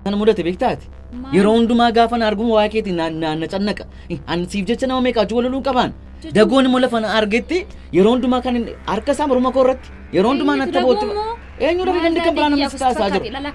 Kan mudate beektaati. Maal? Yeroo hundumaa gaafa na arguun waa'ee keetiin na- na na cannaqa. Ani siif jecha nama meeqa wajjin waloluu qabaan. Jechuun- Dagoon immoo lafa na argetti yeroo hundumaa kan inni- harka isaa morma koo irratti yeroo hundumaa natti boottu. Eenyutu dagoo moo? Eenyutu Maal dandii kan biraa dagoo namni si taasisaa jiru? fakkaate? Lala-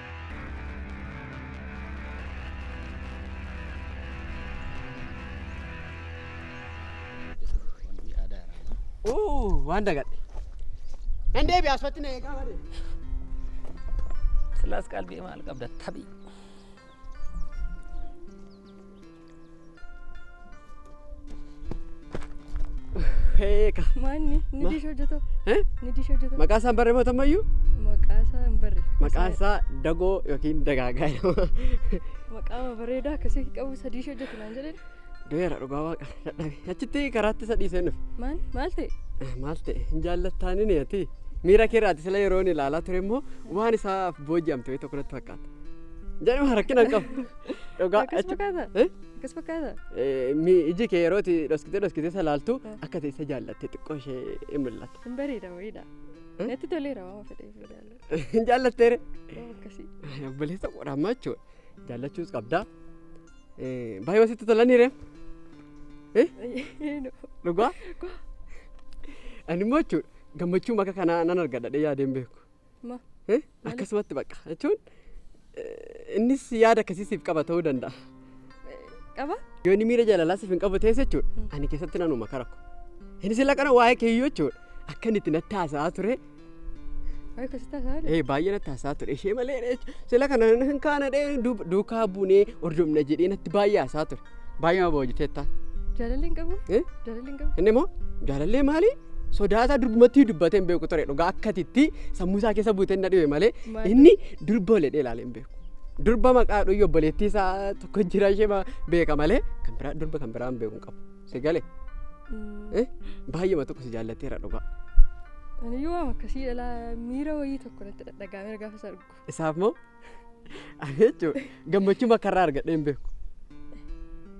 Uu, waan dagadhe. Nan deebi'a asfatti na eegaa malee. Silaas qalbii maal qabda tabii. Eeka. Maanni ni Ma- diisha hojjetoo. Eh? Ni diisha hojjetoo. Maqaa isaan barreeffatu ammayyuu Maqaa isaa hin barre. maqaan isaa dagoo yookiin dagaagaa jedhama. Maqaa bareedaa akkasii qabu isa diisha hojjetu naan jedhan. Doyeera dhugaa waaqa dadhabe. Achitti karaatti isa dhiisee nuuf. Maal maal ta'e? Ah, Maal ta'e hin jaallattaani ni ati. Miira kee irraati sila yeroo inni ilaalaa ture immoo waan isaaf booji'amte wayii tokko natti fakkaata. Jedhama rakkina hin qabu. Dhugaa Akkas achi- fakkaata? Eh? Akkas fakkaata? Eh, mi- iji kee yeroo itti dhoskitee dhoskitee isa laaltu Eh. akka teessa jaallatte xiqqoo ishee hin mul'ata. Hin bareeda wayiidha. Eh? Natti toleera waan fedheef hin jaalladhu. Hin jaallatteere? Yoo akkasii. Obboleessa qoraammaa jechuudha. Jaallachuus qabdaa. Eh, Baay'ee sitti tolaniire. Eenu. Dhugaa. Ani immoo jechuudha gammachuu maka kanaa nan argadha yaadeen beeku. Ma- Eh, akkasumatti bakka jechuun eh, innis yaada akkasii siif qaba ta'uu danda'a. Qaba? Yoo inni miira jaalalaa siif hin qabu ta'es jechuudha ani keessatti nan uuma karakko. Innis illee kana waa'ee keeyyuu jechuudha akka inni itti natti haasa'aa ture Waa'ee kositaa isaa eh, baay'ee natti haasa'aa ture ishee malee jechuudha. sila kana hin kaana dhee duukaa buunee hordofna jedhee natti baay'ee haasa'aa ture. Baay'ee nama boojiteetta. Jaalalli hin qabu. Eh? Jaalalli hin qabu. Inni immoo jaalallee maali? Sodaa isaa durbumatti dubbatee hin beeku ture dhugaa akkatitti sammuu isaa keessa buutee na dhibe malee Maal? inni durba oledhee ilaalee hin beeku. Durba maqaa dhuyyu obboleettii isaa tokko jira ishee ma- beeka malee kan biraa durba kan biraa hin beeku hin qabu. Si galee Mm, eh? baay'eema tokko si jaallatteera dhugaa. Ani yoo waan akkasii dhalaa miira wayii tokko natti dhaga'ameera gaafa isaa argu. Isaaf moo? Ani jechuudha gammachuu makarraa argadhee hin beeku.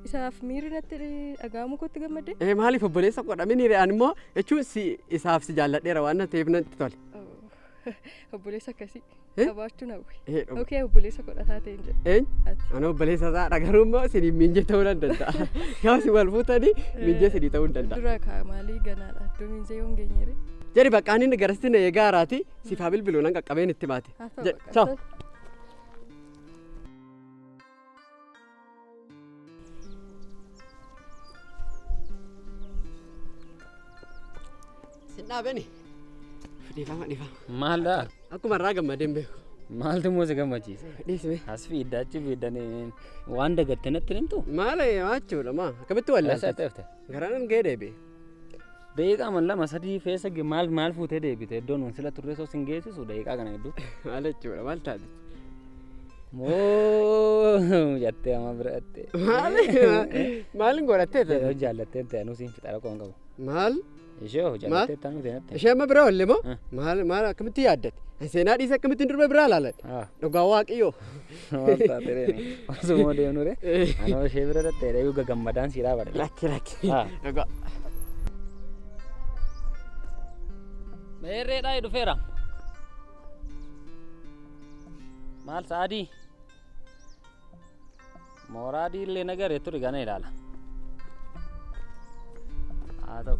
Isaaf miirri natti dhaga'amu kootti gammadde? Ee maaliif obboleessa godha miniire ani immoo jechuun si isaaf si jaalladheera waan ta'eef natti tole. Obboleessa akkasii Eh? qabaachuun hawwe. Ee dhuma. Okee obboleessa godhataa ta'e hin jedhu. Eenyu? Ati. Ani obboleessa isaa dhagaruu immoo siniin miinjee ta'uu nan danda'a. Gaafa si wal fuutanii miinjee sinii ta'uu hin danda'a. Dura kaa maalii ganaadha. Iddoo miinjee yoo hin geenyeere. Jedhi bakka ani garasitti na eegaa haraati Siif haa bilbilu nan qaqqabeen itti baate. Haa ta'u Jedhe. bakka. Chaaw. Sin dhaabeni. Dhiifama dhiifama. Maalidha? Akkuma irraa gammadeen beeku. Maaltu immoo si gammachiise? Dhiisime. As fiidda achi fiiddanii waan dagatte natti himtu? Maala jechuudha maa akkamitti Eessa wallaalta? dhufte? Garaan gahee deebi'e. Daqiiqaa man lama sadii keessa ge- maal maal fuutee deebite iddoo nuun sila turree soo sin geessisu daqiiqaa kana hedduu. Maal jechuudha maal taate? Moo jattee amma bira dhattee. Maal maaliin godhattee Yoo ta'e? jaallattee ta'e anuu siin fixaa rakkoo hin qabu. Maal Ishee hoo jaallattee ta'e anuu seenattee. ishee amma bira oolle moo Ah. maal maal akkamitti yaaddate? Seenaa dhiisa akkamittiin durba biraa ilaalate? Ah. Dhugaa waaqayyoo. Maal taate reeni? Osuma deemnu re. Anoo ishee bira dhattee reeyu gagammadaan sii dhaabadha. Lakki lakki. Ah. Dhugaa. Meerreedhaa dhufeera. Maal sa'aadii? Mooraa adii illee nagaree turi gana ilaala. Haa ta'u.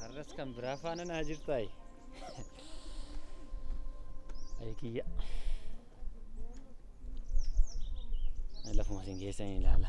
Har'as kan biraa faana naa jirtaayi. Ayi kiyya. Lafuma isin keessan ilaala.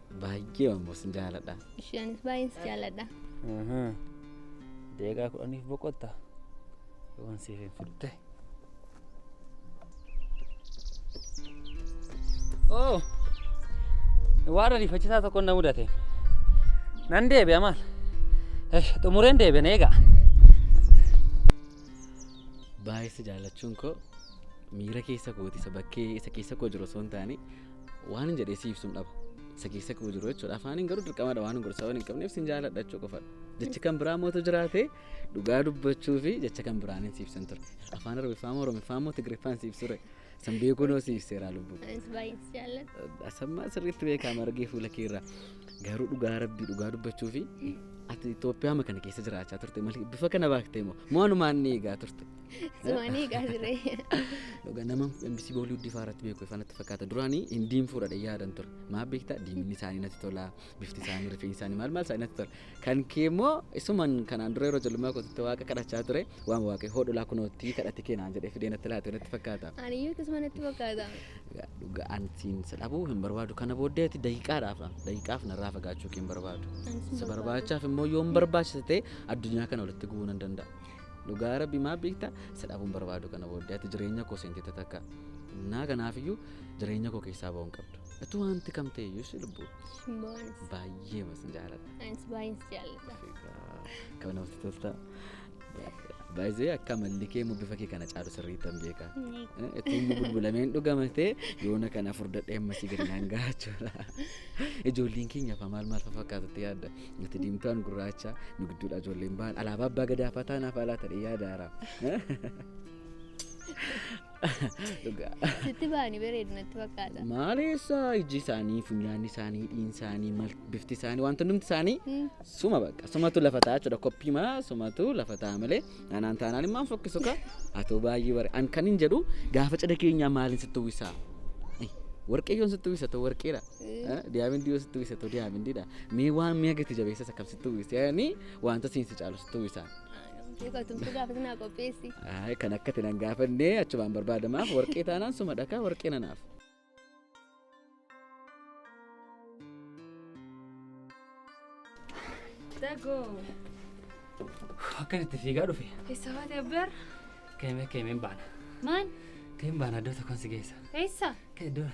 Baay'ee ammoo sin jaaladha. Isheenis baay'ee si jaaladha. Deegaa kudhaniif boqotta. Yoon siif hin fidde. Oo! Waan ariifachiisaa tokko na mudate. Nan deebi'a maal? Esh, Xumureen deebi'an eegaa. Baay'ee si jaallachuun koo miira keessa kooti isa bakkee isa keessa koo jiru osoo hin taane Waanin jedhee si ibsuun dhaba. Isa keessa koo jiru jechuudha. Afaaniin garuu dirqamadha waan gorsa waan hin qabneef sin jaaladha jechuu qofadha. Jechi kan biraa mootu jiraate dhugaa dubbachuu fi jecha kan biraan hin siibsan ture. Afaan Arabiffaa moo Oromiffaa moo Tigiriffaa hin siibsure. San beekuu noo si ibseeraa lubbuu. Anis baay'ee si jaalladha. Asammaa sirriitti beekaa margee fuula keerraa. Garuu dhugaa rabbii dhugaa dubbachuu fi ati Itoophiyaama kana keessa jiraachaa turte malee bifa kana baaktee moo moo anumaan ni eegaa turte. Sumanii egaa jiree. Dhugaa nama MBC Booliwuddii fa'aa irratti beeku ifaa natti fakkaata. Duraanii hin diimfuudha dha yaadan ture. Maaf beektaa diimni isaanii natti tola, bifti isaanii, rifeensi isaanii maal maal isaanii natti tola. Kan kee immoo isuman kanaan dura yeroo ijoollummaa kootitti waaqa kadhachaa ture waan waaqee hoodhulaa kunoottii kadhatti keenaan jedhee fidee natti laate natti fakkaata. Ani iyyuu akkasuma natti fakkaata. Dhugaa- Dhugaa an siin si dhabuu hin barbaadu. Kana booddee ati daqiiqaadhaaf dha. Daqiiqaaf narraa fagaachuu kee hin barbaadu. Anis hin Si barbaadu. barbaachaaf immoo yoon barbaachisa ta'e addunyaa kana walitti gubuu nan danda'a. Dhugaa rabbi maa beekta isa dhabuun barbaadu kana booddee ati jireenya koo seentee tatakka. Naa kanaafiyyuu jireenya koo keessaa ba'uu hin qabdu. Atu wanti kam ta'e iyyuu si lubbuu. Maanis. Baay'ee masin jaalladha. Anis baay'een si jaalladha. Kan namatti tolta. Baay'ee akka amalli kee immoo bifa kee kana caalu sirriitti hin beeka. Ittiin immoo bulbulameen dhugamatee yoona kana furdadhee ammasii gadi naan gahachuudha. Ijoolleen keenya afaa maal maal fakkaatutti yaadda. Nuti diimtuun gurraacha nu gidduudha ijoolleen ba'an alaabaa abbaa gadaa fataa naaf alaa ta'e yaada haaraa. Dhugaa. Sitti ba'anii bareedu natti fakkaata. Maaleessa ijji isaanii, funyaanni isaanii, dhiin isaanii, mal- bifti isaanii, wanti hundumti isaanii suma bakka sumatu lafa ta'a jechuudha koppii maa sumatu lafa ta'a malee Anaan taanaan immaan fokkisu ka atoo baay'ee bare an kan hin jedhu gaafa cidha keenyaa maaliin sitti uwwisaa? Ay, Warqeeyyoon sitti uwwisa too warqeedha. Ah, Diyaamindii yoo sitti uwwisa too diyaamindiidha. Mee waan mi'a gati jabeessas akkam sitti uwwisa? Yaani wanta siin si caalu sitti uwwisaa? Tumtu gaafa sinaa qopheessi. Ay, kan akka tinan gaafannee achumaan barbaadamaaf warqee taanaan suma dhakaa warqee nanaaf. Dagoo. Akkan itti fiigaa dhufe. Eessa baate abbeer? Keemee keemeen baana. Maal? Keemeen baana iddoo tokkoon si geessa. Eessa? Iddoo.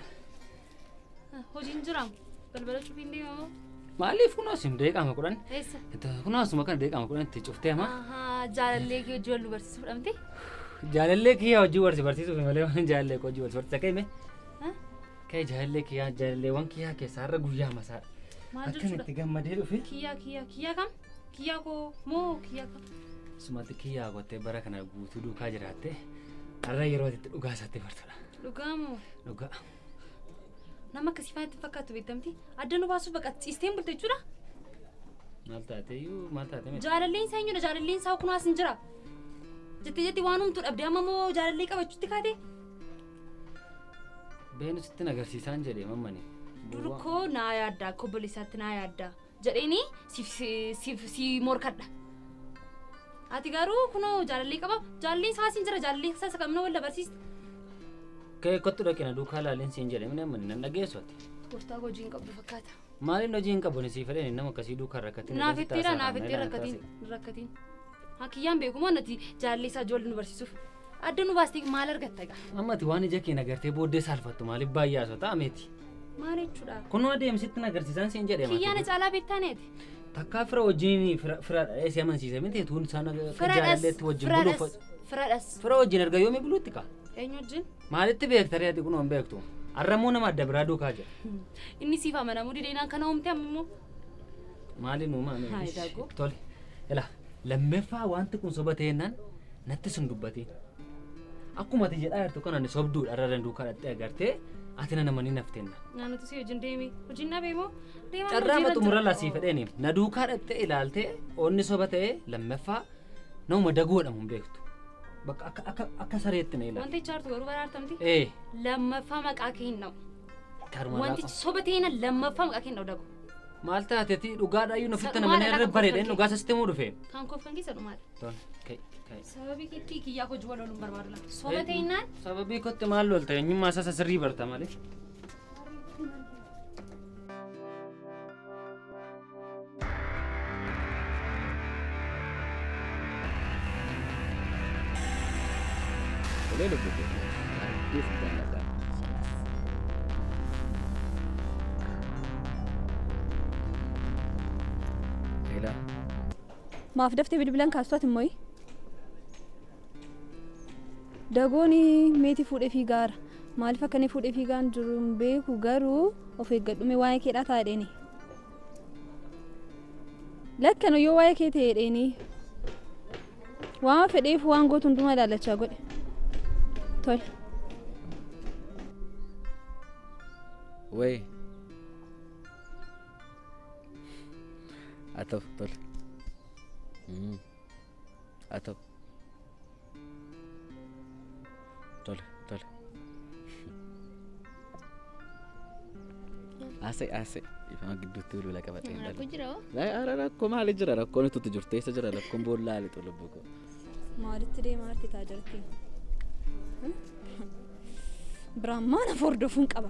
Hojiin jiraam. Balbala cufiin deemamoo? Maaliif kunoo isin deeqaama kudhan? Eessa? Kunoo asuma kana deeqaama kudhan itti cuftee hamaa? Ahaa, jaalallee kee hojii wal nu barsiisuu fudhamte? Jaalallee kiyyaa hojii wal si barsiisuuf malee waan jaalallee koo hojii wal si barsiisa kee mee? Kee jaalallee kiyyaa jaalalleewwan kiyyaa keessaa har'a guyyaa masaa. Maal Akkan jechuudha? itti gammadee dhufe. Kiyyaa kiyyaa kiyyaa kam? Kiyyaa koo moo kiyyaa kam? Sumatti kiyyaa gottee bara kana guutuu duukaa jiraatte har'a yeroo itti dhugaa isaatti bartudha. Dhugaa moo? Dhugaa. Nama akkasii faana itti fakkaatu beektamti. Adda nu baasuuf baqa ciisteen bulte jechuudha. Maal taateeyyuu maal taate miti. Jaalalleen isaa eenyudha? Jaalalleen isaa kunaas hin jira. Jettee jettee waan humtu dhabde amma immoo jaalallee qabachuutti kaate. Beenusitti nagarsiisaan jedhe mammani. Dur koo naa yaadda akka obboleessaatti naa yaadda. jedheeni siif siif si morkadha. Ati garuu kunoo jaalallee qaba jaalallee isaa siin jira jaalallee isaa isa qabna wal dabarsiista. Kee kottu dhaqi na duukaa laalin siin jedhe minee manni nan dhageessu ati. Gooftaa koo hojii hin qabdu fakkaata. Maaliin hojii hin qabu ni sii fedheen nama akkasii duukaa rakkatiin. Naaf ittiira naaf ittiin rakkatiin rakkatiin. Haa kiyyaan beeku moo nati jaallee isaa ijoollee nu barsiisuuf. Adda nu baastee maal argatta egaa? Amma ati waan ija keen agartee booddee saalfattu maaliif baay'ee haasota ameeti? Maal jechuudha? Kunoo adeemsitti na agarsiisaan siin jedhee Kiyyaa na caalaa beektaa neeti. Takkaa fira wajjin fira fira si amansiise miti tuun isaan Firadhas, jaalalleetti wajjin buluuf firadhas, firadhas. fira wajjin erga yoomii buluutti kaa? Eenyu wajjin? Maalitti beekta reeti kunoo hin beektu. Arramuu nama adda biraa duukaa jira. Inni siif amanamuu dideenaan kana uumte amma immoo. Maali nuu maami? Haa, Daaguu. Tole. Ila lammaffaa wanti kun soba ta'ennaan natti sun dubbatiin. Akkuma ati jedhaa jirtu kana ani sobduudha irra danduu kadhattee agartee ati na namanii naaf tenna. Naannatu si wajjin deemi. Hojiin na beemoo? Deemaa Carraa hojiirra maxumura jira. lasii fedheeni. Na duukaa dhattee ilaaltee onni soba ta'ee lammaffaa nama daguu jedhamu hin beektu. Bakka akka akka akka sareetti na ilaala. Wanti ichaartu garuu baraartamti. Ee. Lammaffaa maqaa kee hin dha'u. Karuma Wantichi laafaa. soba ta'ina lammaffaa maqaa kenna odabu. Maal taate ati dhugaadhaa iyyuu nufitti Sanumaa namanii irra lafa bareedeen kofalkee. dhugaa sasitti muu dhufe. Kan kofan keessa dhumaadha. Toon ka'e ka'e. Sababii keetti kiyyaa hojii wal ooluun barbaadu laata. Soba ta'inaan Sababii kootti maal lolta eenyummaa isaa sasirrii barta malee. Tolee lubbuu koo. Baay'ee si jaalladha. Leelaa. Maaf daftee bilbilan kaastuuti immoo? Dagooni meeti fuudhe fiigaara. Maaliif akka inni fuudhe fiigaan jiru hin beeku garuu of eeggadhume waa'ee keedhaa ta'a dheeni. Lakkano yoo waa'ee kee ta'e dheeni. Waan fedheef waan gootu hundumaa ilaallachaa godhe. Tole. Wee. Haa ta'u tole. Mm. haa ta'u tole tole haasa'e haasa'e ifama gidduutti ulula qabatee hin Rakkoo dhalu jira hoo? Ara rakkoo maali jira rakkoon itti jirtu eessa jira rakkoon boolla haali xulubbuu koo Maalitti deemaa arti taa jirti? Biraan maana fordofuun qaba.